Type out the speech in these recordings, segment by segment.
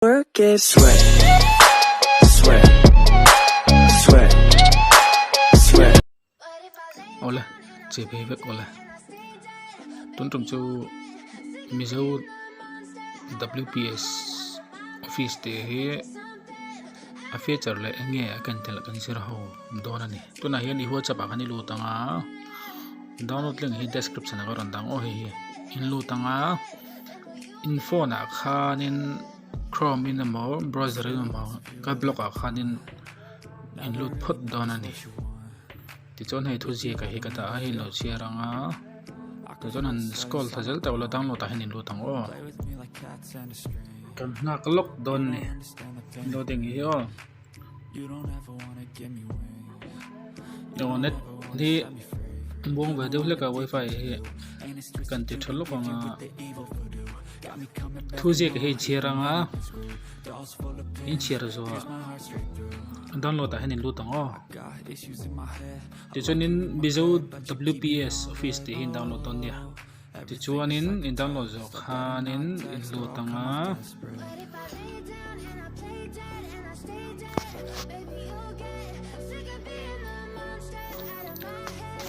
Work it. Sweat, sweat, sweat, sweat. Aw le, che phei vek aw le. Tun tum chu Mizo WPS office te hi a feature leh eng nge a kan tel a kan zir ho dawn a ni. Tunah hian i whatsapp ah khan i lut ang a, download link hi description ah ka rawn dang aw hei hi. In lut ang a. in phone ah khanin chrome in emaw browser in emaw ka block ah khanin a in lut phawt dawn a ni tichuan hei thuziak ah hi ka dah a hei in lo chhiar ang a tah chuan an scroll thla zel tak lo download ah hian in lut ang aw kan nghak lawk dawn a ni loading hi aw. Aw net hi buang ve deuh hlek a wifi hi kan ti tha lawk ang a thu ziak hi a chhiar ang a in chhiar zo a download ah hian in lut ang aw tichuan in mizo WPS office tih hi in download dawn nia. Tichuanin i download zawh khanin i lut ang a.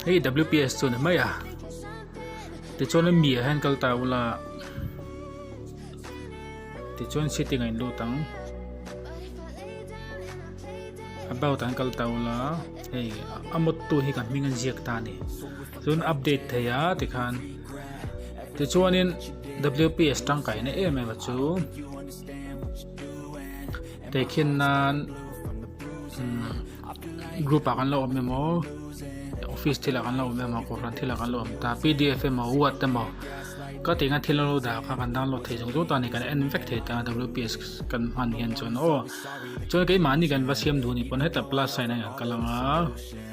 Hei WPS chu ni mai a. Tichuan mi ah hian kal ta ula. Tichuan setting a in lut ang. About ah hian kal ta ula. Hei a mawttu hi ka hming a inziak ta a ni. tun update thei a tikhan tichuanin WPS tangkai na em em a chu tekhin nan group a kan lo awm emaw office thila kan lo awm emaw kohhran thila kan lo awm ta pdf emaw word emaw ka tinga thil lo da kha kan download thei zung zung ta ni kan en vek thei ta WPS kan hman hian chuan aw chuan keimah ni kan va siam duh ni pawn heta plus sign a ang ka lang a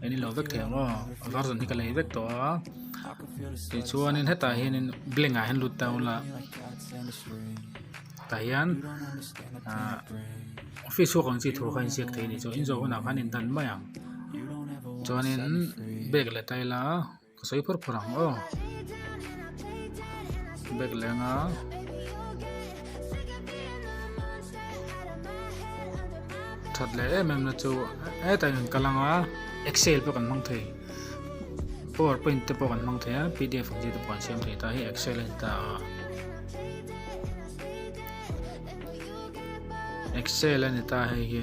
Kan inlo vek thei ang aw a var zawng hi ka lei vek tawh a tichuanin hetah hianin blank ah hian lut ta awm la tah hian ah office chhung ang chi thu kha inziak thei a nih chuan inzo hunah khan a indan mai ang chuanin bag leh taila-- ka sawi phur phur ang aw bag leng a that leh em em na chu hetah hian ka langa excel pawh kan hmang thei power point te pawh kan hmang thei a pdf ang chi te pawh kan siam thei ta hi excel a ni ta a excel a ni ta hei hi.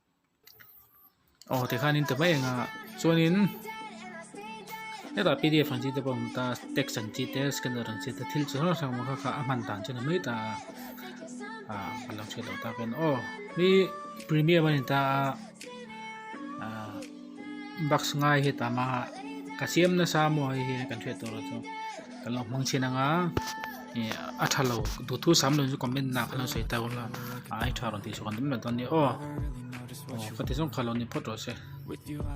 aw tikhanin ti mai anga chuanin hetah p d f ang chi te pawh a awm ta tex ang chi te scanner ang chi te thil chi hrang hrang kha a hman dan chuan a mai ta a a lang chhuah loh tak hian aw hei premium a ni ta a ahh-- box ngai hi tam a ka siam nasa maw hei hian kan hriat tur chu kan lo hmang chin anga ih a tha lo duh thu sam lo in chu comment hnenah khan lo sawi ta hun la ai tha lo tih chu kan awm lo ta a ni aw aw ka ti zawng kha lo ni phawt rawh se.